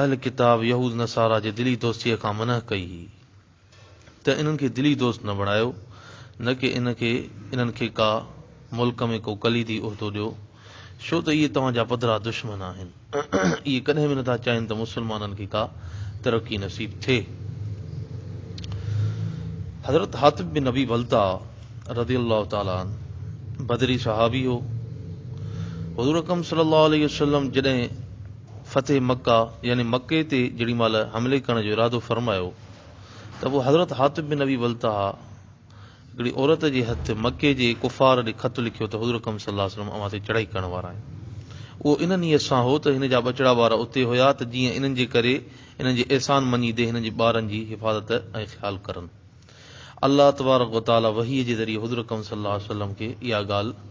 اهل ڪتاب يهود نصاريٰ جي دلي دوستيء کان منع ڪئي هئي ته انهن کي دلي دوست نه بڻايو نه ڪي ان کي انهن کي ڪا ملڪ ۾ ڪو ڪليدي عهدو ڏيو ڇو ته اهي توهان جا پڌرا دشمن آهن اهي ڪڏهن به نٿا چاهين ته مسلمانن کي ڪا ترقي نصيب ٿئي حضرت حاطب بن ابي بلتع رضي الله تعالٰي عنه بدري صحابي هو حضور اڪرم صلي الله عليه وسلم جڏهن فتح مڪه يعني مڪي تي جهڙي مهل حملي ڪرڻ جو ارادو فرمايو ته پوء حضرت حاطب بن ابي بلتعه هڪڙي عورت جي هٿ مڪي جي ڪفار ڏي خط لکيو ته حضور اڪرم صلي الله عليه وسلم اوهان تي چڙهائي ڪرڻ وارا آهن. اهو ان نيت سان هو ته هن جا ٻچڙا ٻار اتي هيا ته جيئن انهن جي ڪري انهن جي احسان مڃيندي هنن جي ٻارن جي حفاظت ۽ خيال ڪرن. الله تبارڪ وتعاليٰ وحي جي ذريعي حضور اڪرم صلي الله عليه وسلم کي اها ڳالهه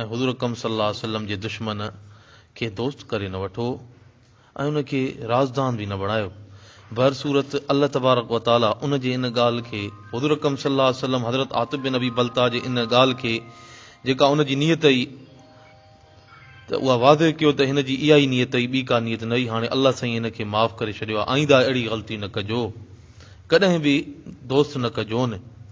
۽ حضور اڪرم صلي الله عليه وسلم جي دشمن کي دوست ڪري نه وٺو ۽ ان کي رازدان به نه بڻايو. بهر صورت الله تبارڪ و تعاليٰ ان جي ان ڳالهه کي حضور اڪرم صلي الله عليه وسلم حضرت عاطب بن ابي بلتعه جي ان ڳالهه کي جيڪا ان جي نيت هئي ته اها واضح ڪيو ته هن جي اها ئي نيت هئي ٻي ڪا نيت نه هئي هاڻي الله سائين هن کي معاف ڪري ڇڏيو آئنده اهڙي غلطي نه ڪجو ڪڏهن به دوست نه ڪجون.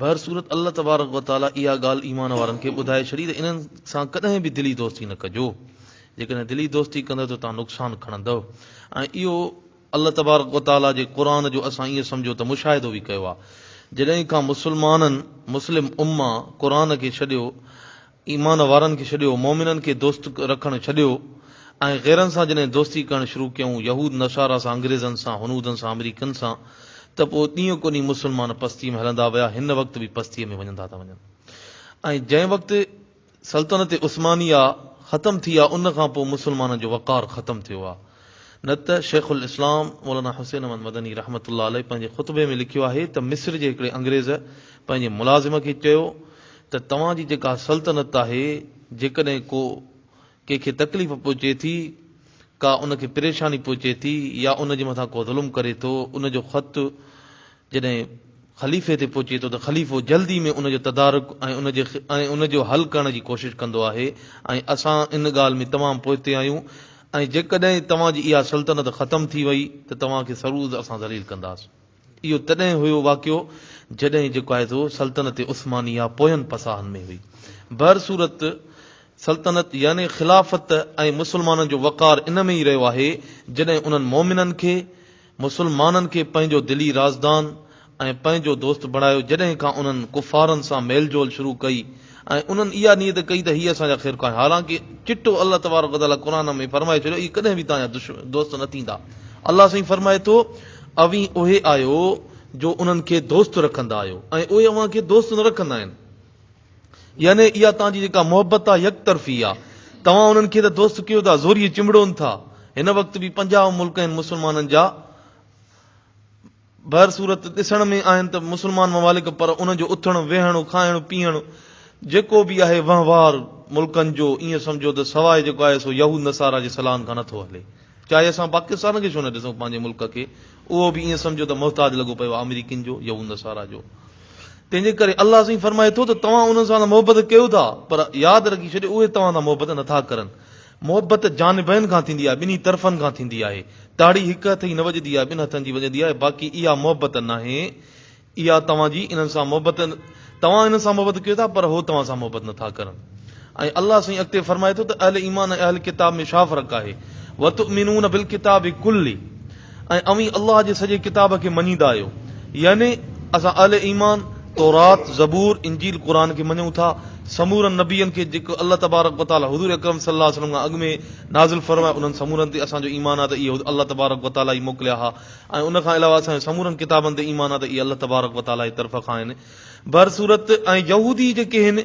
بهر صورت الله تبارڪ و تعالي اها ڳالهه ايمان وارن کي ٻڌائي ڇڏي ته انهن سان ڪڏهن به دلي دوستي نه ڪجو، جيڪڏهن دلي دوستي ڪندؤ ته توهان نقصان کڻندؤ ۽ اهو الله تبارڪ و تعالي جي قرآن جو اسان ائين سمجهو ته مشاهدو به ڪيو آهي جڏهن کان مسلمانن، مسلم امّه، قرآن کي ڇڏيو ايمان وارن کي ڇڏيو، مؤمنن کي دوست رکڻ ڇڏيو ۽ غيرن سان جڏهن دوستي ڪرڻ شروع ڪيائون، يهود نصارا سان، انگريزن سان، هنودن سان، آمريڪين سان، ته پوء ڏينهن ڪو ڏينهن مسلمان پستيء ۾ هلندا ويا، هن وقت به پستيء ۾ وڃندا ٿا وڃن ۽ جنهن وقت سلطنت عثمانيه ختم ٿي آ، ان کان پوء مسلمانن جو وقار ختم ٿيو آ، نه ته شيخ الاسلام مولانا حسين احمد مدني رحمة الله عليه پنهنجي خطبي ۾ لکيو آهي ته مصر جي هڪڙي انگريز پنهنجي ملازم کي چيو، ته توهان جي جيڪا سلطنت آهي، جيڪڏهن ڪو ڪنهن کي تڪليف پهچي ٿي، ڪا ان کي پريشاني پهچي ٿي يا ان جي مٿان ڪو ظلم ڪري ٿو، ان جو خط جڏهن خليفي تي پهچي ٿو ته خليفو جلدي ۾ ان جو تدارڪ ۽ ان جو حل ڪرڻ جي ڪوشش ڪندو آهي ۽ اسان ان ڳالهه ۾ تمام پوئتي آهيون ۽ جيڪڏهن توهان جي اها سلطنت ختم ٿي وئي ته توهان کي سرعرض اسان ذليل ڪنداسين. اهو تڏهن هيو واقعو جڏهن جيڪو آهي سو سلطنت عثماني يا پوين پساهن ۾ هئي. بهر صورت سلطنت يعني خلافت ۽ مسلمانن جو وقار ان ۾ ئي رهيو آهي جڏهن انهن مؤمنن کي، مسلمانن کي پنهنجو دلي رازدان ۽ پنهنجو دوست بڻايو جڏهن کان انهن ڪفارن سان ميل جول شروع ڪئي، ۽ انهن اها نيت ڪئي ته هي اسان جا خير خواه آهن، حالانڪه چٽو الله تبارڪ وتعاليٰ قرآن ۾ فرمائي ڇڏيو اهي ڪڏهن به توهان جا دوست نه ٿيندا. الله سائين فرمائي ٿو، اوهين اهي آهيو جو انهن کي دوست رکندا آهيو ۽ اهي اوهان کي دوست نه رکندا آهن. يعني اها توهان جي جيڪا محبت آهي يڪ طرفي آهي. توهان انهن کي ته دوست ڪيو ٿا، زوريء چنبڙون ٿا. هن وقت به پنجاهه ملڪ آهن مسلمانن جا. بهر صورت ڏسڻ ۾ آهن ته مسلمان ممالڪ پر انهن جو اٿڻ، ويهڻ، کائڻ، پيئڻ جيڪو به آهي وهنوار ملڪن جو ائين سمجهو ته سواء جيڪو آهي سو يهود نصارا جي صلاحن کان نه ٿو هلي. چاهي اسان پاڪستان کي ڇو نه ڏسون پنهنجي ملڪ کي اهو به ائين سمجهو ته محتاج لڳو پيو آهي آمريڪين جو، يهود نصارا جو. تنهن جي ڪري الله سائين فرمائي ٿو ته توهان انهن سان ته محبت ڪيو ٿا پر ياد رکي ڇڏيو اهي توهان سان محبت نه ٿا ڪرن. محبت جانبين کان ٿيندي آهي، ٻنهي طرفن کان ٿيندي آهي. تاڙي هڪ هٿ جي نه وڄدي آهي، ٻن هٿن جي وڄندي آهي، باقي اها محبت ناهي. اها توهان جي انهن سان محبت، توهان انهن سان محبت ڪيو ٿا، پر هو توهان سان محبت نٿا ڪرن. ۽ الله سائين اڳتي فرمائي ٿو ته اهل ايمان ۽ اهل ڪتاب ۾ ڇا فرق آهي؟ وتؤمنون بالڪتاب ڪلّه، ۽ اوهين الله جي سڄي ڪتاب کي مڃيندا آهيو، يعني اسان اهل ايمان تورات، زبور، انجيل، قرآن کي مڃون ٿا، سمورن نبين کي جيڪو الله تبارڪ و تعاليٰ حضور اڪرم صلّي الله عليه وسلّم کان اڳ ۾ نازل فرمايو، انهن سمورن تي اسان جو ايمان آهي ته اهي الله تبارڪ و تعاليٰ ئي موڪليا ها ۽ ان کان علاوه اسان جو سمورن ڪتابن تي ايمان آهي ته اهي الله تبارڪ و تعاليٰ جي طرف کان آهن. بهرصورت، ۽ يهودي جيڪي هن.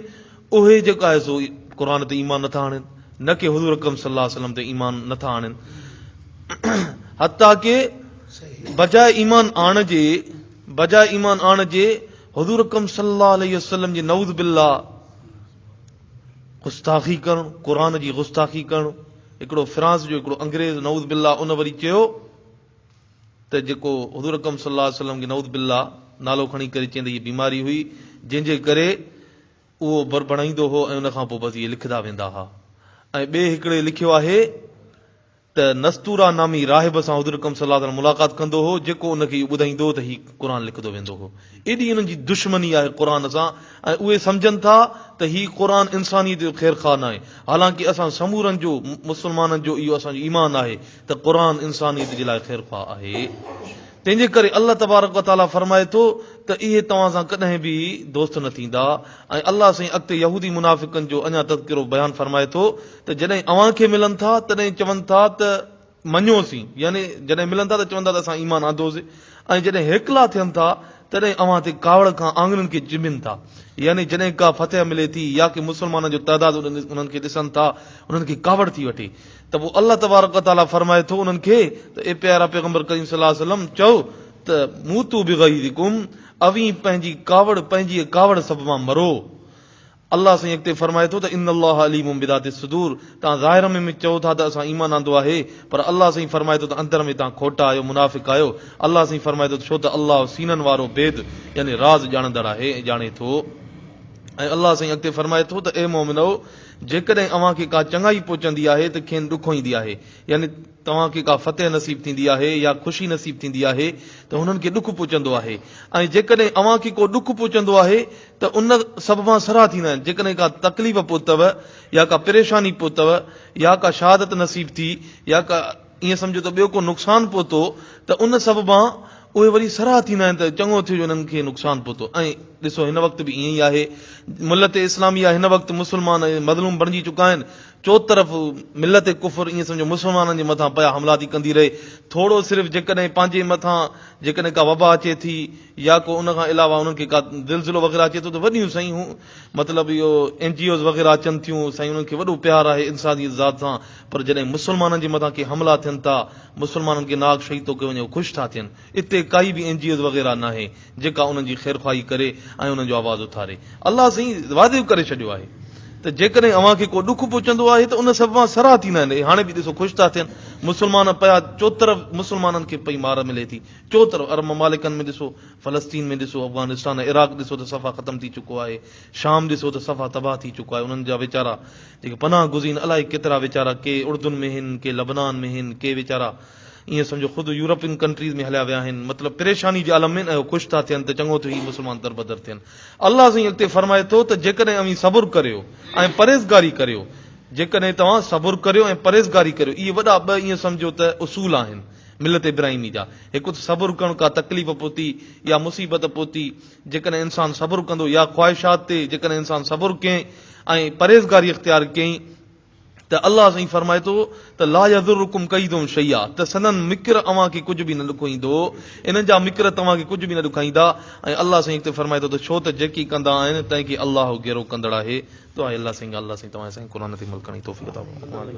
اهي جيڪو آهي سو قرآن تي ايمان نٿا آڻين نه ڪي حضور اڪرم صلي الله عليه وسلم تي ايمان نٿا آڻين حتيٰ ڪي بجاء ايمان آڻ جي بجاء ايمان آڻ جي حضور اڪرم صلي الله عليه وسلم جي نعوذ بالله گستاخي ڪرڻ قرآن جي گستاخي ڪرڻ هڪڙو فرانس جو هڪڙو انگريز نعوذ بالله ان وري چيو ته جيڪو حضور اڪرم صلي الله عليه وسلم جي نعوذ بالله نالو کڻي ڪري چيندي هي بيماري هئي جنهن جي ڪري اهو بر بڻائيندو هو ۽ ان کان پوء بس اهي لکدا ويندا ها ۽ ٻئي هڪڙي لکيو آهي ته نستورا نامي راهب سان حضور اڪرم صلي الله عليه وسلم ملاقات ڪندو هو جيڪو ان کي اهو ٻڌائيندو هو ته هي قرآن لکدو ويندو هو ايڏي انهن جي دشمني آهي قرآن سان ۽ اهي سمجهن ٿا ته هي قرآن انسانيت جو خير خواهه ناهي حالانڪه اسان سمورن جو مسلمانن جو اهو اسان جو ايمان آهي ته قرآن انسانيت جي لاء خير خواهه آهي تنهن جي ڪري الله تبارڪ و تعاليٰ فرمائي ٿو ته اهي توهان سان ڪڏهن به دوست نه ٿيندا ۽ الله سائين اڳتي يهودي منافقن جو اڃا تذڪرو بيان فرمائي ٿو ته جڏهن اوهان کي ملن ٿا تڏهن چون ٿا ته مڃيوسين يعني جڏهن ملن ٿا ته چون ٿا ته اسان ايمان آندوسين ۽ جڏهن هيڪلا ٿين ٿا تڏهن اوهان تي ڪاوڙ کان آڱرين کي چنبين ٿا يعني جڏهن ڪا فتح ملي ٿي يا ڪي مسلمانن جو تعداد انهن کي ڏسن ٿا انهن کي ڪاوڙ ٿي وٺي ته پوء الله تبارڪ و تعالي فرمائي ٿو انهن کي ته اي پيارا پيغمبر ڪريم صلي الله عليه وسلم چئو ته موتو بغيظڪم اوهين پنهنجي ڪاوڙ پنهنجي ڪاوڙ سببان مرو الله سائين اڳتي فرمائي ٿو ته ان الله عليم بذات الصدور توهان ظاهر ۾ ۾ چئو ٿا ته اسان ايمان آندو آهي پر الله سائين فرمائي ٿو ته اندر ۾ توهان کوٽا آهيو منافق آهيو الله سائين فرمائي ٿو ته ڇو ته الله سينن وارو بيد يعني راز ڄاڻندڙ آهي ۽ ڄاڻي ٿو ۽ الله سائين اڳتي فرمائي ٿو ته اي مؤمنؤ جيڪڏهن اوهان کي ڪا چڱائي پهچندي آهي ته کين ڏکوئيندي آهي، يعني توهان کي ڪا فتح نصيب ٿيندي آهي يا خوشي نصيب ٿيندي آهي ته هنن کي ڏک پهچندو آهي ۽ جيڪڏهن اوهان کي ڪو ڏک پهچندو آهي ته ان سببان سرها ٿيندا آهن جيڪڏهن ڪا تڪليف پهتؤ يا ڪا پريشاني پهتؤ يا ڪا شهادت نصيب ٿي يا ڪا ائين سمجهو ته ٻيو ڪو نقصان پهتو ته ان سببان اهي وري سرها ٿيندا آهن ته چڱو ٿيو جو انهن کي نقصان پهتو ۽ ڏسو هن وقت به ائين ئي آهي ملت اسلاميه هن وقت مسلمان ائين مظلوم بڻجي چڪا آهن چوطرف ملت ڪفر ائين سمجهو مسلمانن جي مٿان پيا حملا ٿي ڪندي رهي ٿورو صرف جيڪڏهن پنهنجي مٿان جيڪڏهن ڪا وبا اچي ٿي يا ڪو ان کان علاوه انهن کي ڪا زلزلو وغيره اچي ٿو ته وڏيون سائين مطلب اهو اين جي اوز وغيره اچن ٿيون سائين انهن کي وڏو پيار آهي انسانيت ذات سان پر جڏهن مسلمانن جي مٿان ڪي حملا ٿين ٿا مسلمانن کي ناحق شهيد ٿو ڪيو وڃي هو خوش ٿا ٿين اتي ڪائي به اين جي اوز وغيره ناهي جيڪا انهن جي خيرخواهي ڪري ۽ انهن جو آواز اٿاري الله سائين واضح ڪري ڇڏيو آهي ته جيڪڏهن اوهان کي ڪو ڏک پهچندو آهي ته ان سببان سرها ٿيندا آهن اي هاڻي به ڏسو خوش ٿا ٿين مسلمان پيا چوطرف مسلمانن کي پئي مار ملي ٿي چوطرف عرب ممالڪن ۾ ڏسو فلسطين ۾ ڏسو، افغانستان ۽ عراق ڏسو ته صفا ختم ٿي چڪو آهي، شام ڏسو ته صفا تباهه ٿي چڪو آهي، انهن جا ويچارا جيڪي پناهه گزين الائي ڪيترا ويچارا ڪي اردن ۾ هين، ڪي لبنان ۾ هين، ڪي ويچارا ائين سمجهو خود يورپين ڪنٽريز ۾ هليا ويا آهن، مطلب پريشاني جي عالم ۾ ۽ هو خوش ٿا ٿين ته چڱو ٿيو هي مسلمان دربدر ٿين. الله سائين اڳتي فرمائي ٿو ته جيڪڏهن اوهين صبر ڪريو ۽ پرهيزگاري ڪريو، جيڪڏهن توهان صبر ڪريو ۽ پرهيزگاري ڪريو، اهي وڏا ٻه ائين سمجهو ته اصول آهن، ملت ابراهيمي جا هڪ ته صبر ڪرڻ ڪا تڪليف پهتي يا مصيبت پهتي جيڪڏهن انسان صبر ڪندو يا خواهشات تي جيڪڏهن انسان صبر ڪئين ۽ پرهيزگاري اختيار ڪئين ته الله سائين فرمائي ٿو ته لا يضرڪم ڪيدهم شيئا ته سندن مڪر اوهان کي ڪجهه به نه ڏکوئيندو انهن جا مڪر توهان کي ڪجهه به نه ڏکائيندا ۽ الله سائين اڳتي فرمائي ٿو ته ڇو ته جيڪي ڪندا آهن تنهن کي الله گهرو ڪندڙ آهي دعا آهي الله سائين الله سائين توهان سائين قرآن تي عمل ڪرڻ جي توفيق عطا فرمائي